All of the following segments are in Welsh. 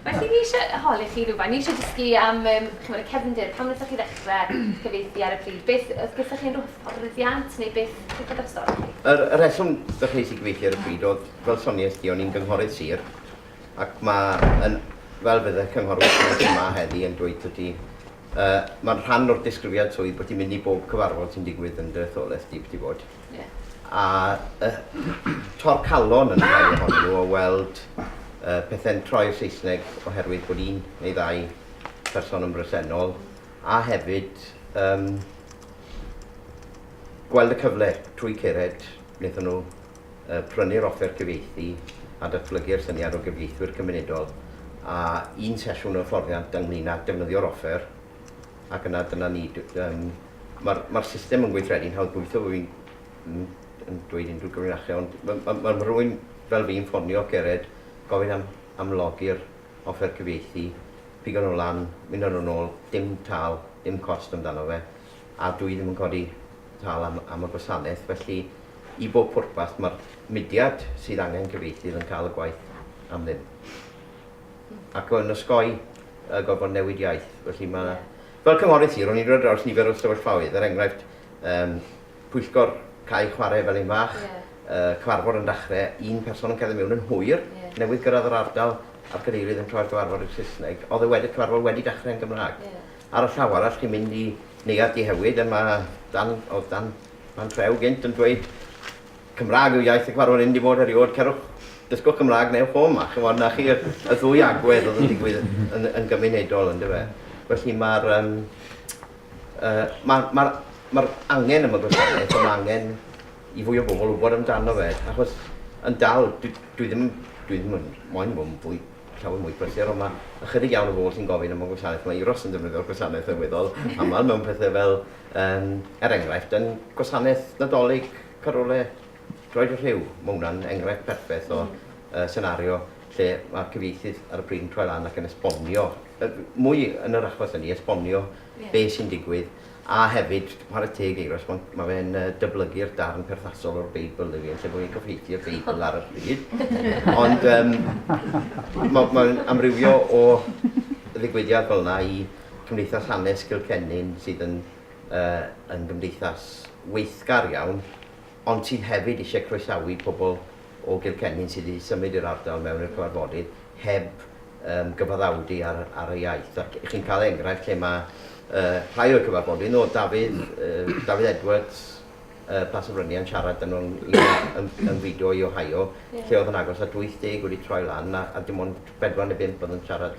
Felly, ni isie holi chi rywbeth, ni isie dysgu am yym chimod y cefndir, pam wnaethoch chi ddechrau cyfieithu ar y pryd? Beth, oedd gyda chi unrhyw hyfforddiant neu beth, beth oedd yr stori chi? Yr y rheswm ddechreuais i gyfieithu ar y pryd oedd, fel soniais di, o'n i'n gynghorydd sir, ac mae yn, fel bydd y cynghorwyr sydd yma heddi yn dweud wrth ti, uh, mae'n rhan o'r disgrifiad swydd bod ti'n mynd i bob cyfarfod sy'n digwydd yn dy etholaeth di, beth i fod. a torcalon yn y rhai ohonyn nhw o weld pethau'n troi'r Saesneg oherwydd bod un neu ddau person yn bresennol, a hefyd um, gweld y cyfle trwy cered wnaethon nhw uh, prynu'r offer cyfieithu a datblygu'r syniad o gyfieithwyr cymunedol a un sesiwn o hyfforddiant ynglyn â defnyddio'r offer Ac yna dyna ni. Um, Mae'r ma system yn gweithredu'n hawdd gweithio, bod fi'n yn, yn dweud unrhyw gyfrinachau, ond mae ma, ma, ma rhywun fel fi'n ffonio Cered, gofyn am, am logi'r offer cyfieithu, pigo nhw lan, mynd â nhw'n ôl, dim tal, dim cost amdano fe, a dwi ddim yn codi tal am, am y gwasanaeth, felly i bob pwrpas mae'r mudiad sydd angen cyfieithydd yn cael y gwaith am ddim. ac yn osgoi y gorfod newid iaith. Felly mae... Yeah. Fel cynghorydd sir, o'n i'n rhoi draws nifer o sefyllfaoedd, er enghraifft, um, pwyllgor cael chwarae fel un fach, yeah. uh, cyfarfod yn dachrau, un person yn cerdded mewn yn hwyr, yeah. newydd gyrraedd yr ardal, a'r cadeirydd yn troi'r gyfarfod i'r Saesneg, oedd y wedi cyfarfod wedi dachrau yn Gymraeg. Yeah. Ar y llaw arall, chi'n mynd i neuad dihewyd, a mae dan, oedd dan, dan treu gynt yn dweud Cymraeg yw iaith y cyfarwydd yndi fod eriod cerwch dysgwch Cymraeg neu ewch o ma ch'mod na chi y y ddwy agwedd odd yn digwydd yn yn gymunedol yndyfe felly ma'r yym yy ma' ma'r ma'r angen am y gwasanaeth a ma' angen i fwy o bobol wbod amdano fe achos yn dal dwi dwi ddim dwi ddim yn moyn bo' yn fwy llawer mwy prysur on' ma' ychydig iawn o bobol sy'n gofyn am y gwasanaeth ma' Euros yn defnyddio'r gwasanaeth yn weddol amal mewn pethe fel yym er enghraifft yn gwasanaeth Nadolig Carole, droed y rhiw, mae hwnna'n enghraifft perffeth o senario lle mae'r cyfieithydd ar y pryd yn troi lan ac yn esbonio, mwy yn yr achos hynny, esbonio be sy'n digwydd, a hefyd, chwarae teg i Euros, mae fe'n dyblygu'r darn perthasol o'r Beibl i fi, yn lle bod fi'n cyfieithu'r Beibl ar y pryd. Ond um, mae'n ma amrywio o ddigwyddiad fel yna i Cymdeithas Hanes Cilcennin sydd yn yn gymdeithas weithgar iawn, ond sydd hefyd eisiau croesawu pobl o Gilkennin sydd wedi symud i'r ardal mewn i'r cyfarfodydd heb yym gyfaddawdu ar ar y iaith ac chi'n cael enghraifft lle mae yy rhai o'r cyfarfodydd nôl Dafydd yy Dafydd Edwards yy Plas y Fryniau'n siarad yn nhw'n yn, yn fidio i Ohio yeah. lle oedd yn agos at 80 wedi troi lan a, a dim ond 4 neu 5 oedd yn siarad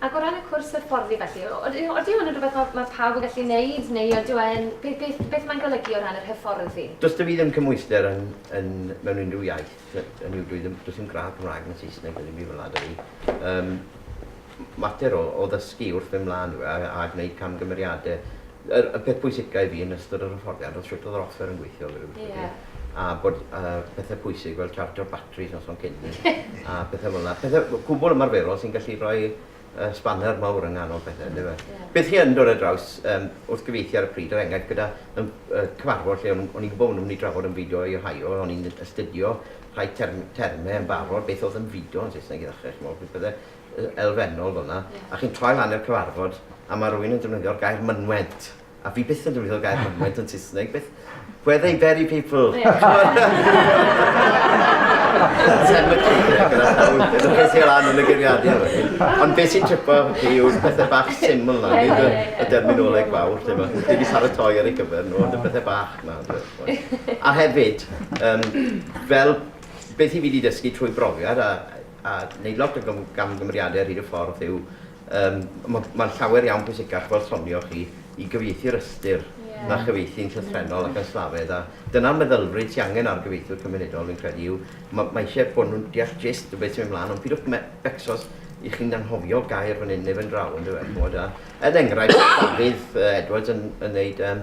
Ac o ran y cwrs hyfforddi felly, odyw hwn yn rhywbeth mae mae pawb yn gallu wneud neu odyw e'n... beth beth beth mae'n golygu o ran yr hyfforddi? Does 'da fi ddim cymhwyster yn yn mewn unrhyw iaith, hynny yw dwi ddim... does dim gradd Cymraeg na Saesneg na ddim byd fel 'na 'da fi. Yym. mater o o ddysgu wrth fynd mlaen yw e a a gwneud camgymeriade. Yr y peth pwysica i fi yn ystod yr hyfforddiant o'dd shwt o'dd yr offer yn gweithio fi'n credu. Ie. A bod yy pethe pwysig fel chargio'r batris noson cyn a pethe fel 'na. Pethe w- cwbwl ymarferol sy'n gallu rhoi yy sbaner mawr yng nghanol pethe yndyfe? Ie. Beth chi yn dod ar draws yym wrth gyfieithu ar y pryd er enghraifft gyda yym yy cyfarfod lle o'n o'n i'n gwbo' bo' nw'n myn' i drafod ymfudo i Ohio a o'n i'n astudio rhai term- terme yn barod beth o'dd ymfudo yn Saesneg i ddechre ch'mo' beth bydde elfennol fan'na, a chi'n troi lan i'r cyfarfod, a mae rhywun yn defnyddio'r gair 'mynwent', a fi byth yn defnyddio'r gair 'mynwent' yn Saesneg, beth... Where they bury people! Cemetery, gyda llaw, ydych chi'n sy'n lan yn y geiriadur hynny. Ond beth sy'n tripo chi yw'r pethau bach syml na, nid y, y derminoleg fawr, lle mae wedi paratoi ar ei gyfer nhw, ond y pethau bach na. A hefyd, um, fel beth i fi wedi dysgu trwy brofiad, a a neud lot o gamgymeriade ar hyd y ffordd yw yym mae'n llawer iawn pwysicach fel sonioch chi i gyfieithu'r ystyr na chyfieithu'n llythrennol ac yn slafedd a dyna'r meddylfryd sy'n angen ar gyfieithwyr cymunedol fi'n credu yw mae eisiau bod nhw'n deall gist o beth sy'n mynd mlaen ond pidwch becsos i chi'n anghofio gair fan hyn neu fan draw yndyfe chimod a er enghraifft Dafydd Edwards yn yn neud yym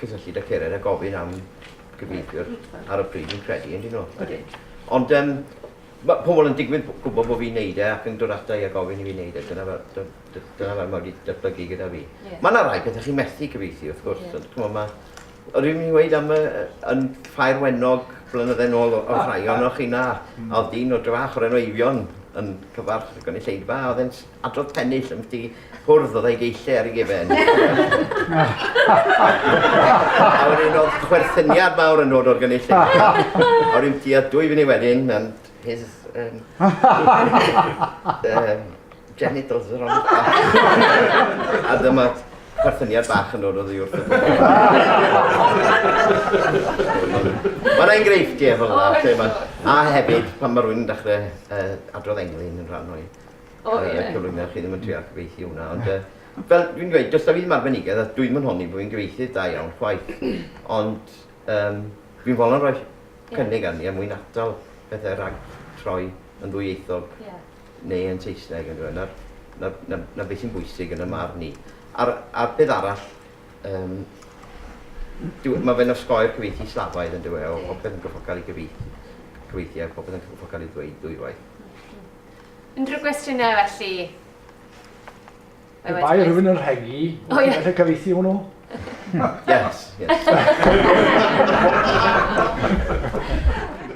cysylltud â Cered a gofyn am gyfieithwyr ar y pryd fi'n credu, yn dyn nhw? Ydyn. Ond um, mae pobl yn digwydd gwybod bod fi'n neud e ac yn dod ata i a gofyn i fi'n neud e. Dyna fel, dyna fel mae wedi datblygu gyda fi. Yeah. Mae yna rai pethau chi'n methu cyfeithi, wrth gwrs. Yeah. Cymod, mae... Yr un ni'n gweud am y, yn ffair wenog blynyddau nôl o ah, rhai o'n o'ch ah. a oedd dyn o drafach o'r enw Eifion yn cyfarch gynulleidfa a oedd e'n adrodd pennill am chdi hwrdd oedd ei geillu ar ei gefen. a wedyn oedd chwerthyniad mawr yn dod o'r gynullu. a wedyn ti a dwy fyny wedyn, and his... Um, um, genitals are on the a dyma chwerthyniad bach yn dod o ddi wrth y Mae'n enghreifftiau fel yna, a hefyd pan mae rhywun yn dechrau uh, adrodd englyn yn rhan o'i O ie. Yy cyflwyno chi ddim yn trial cyfieithu hwnna ond yy fel dwi'n dweud does 'da fi ddim arbenigedd a dwi'm yn honni bo' fi'n gyfieithydd da iawn chwaith ond yym fi'n fodlon rhoi Ie. cynnig arni er mwyn atal pethe rhag troi yn ddwyieithog. Ie. neu yn Saesneg on'd yw e? 'na'r 'na 'na 'na beth sy'n bwysig yn 'y marn i. A'r a'r peth arall yym dyw e... ma' fe'n osgoi'r cyfieithu slafaidd on'd yw e o popeth yn cyfoca'l i gyfieithu cyfieithu a popeth yn cyfoca'l i ddweud ddwywaith. Unrhyw gwestiynau felly? Pe bai rhywun yn rhegi, wyt ti'n gallu cyfeithi hwnnw? Yes, yes.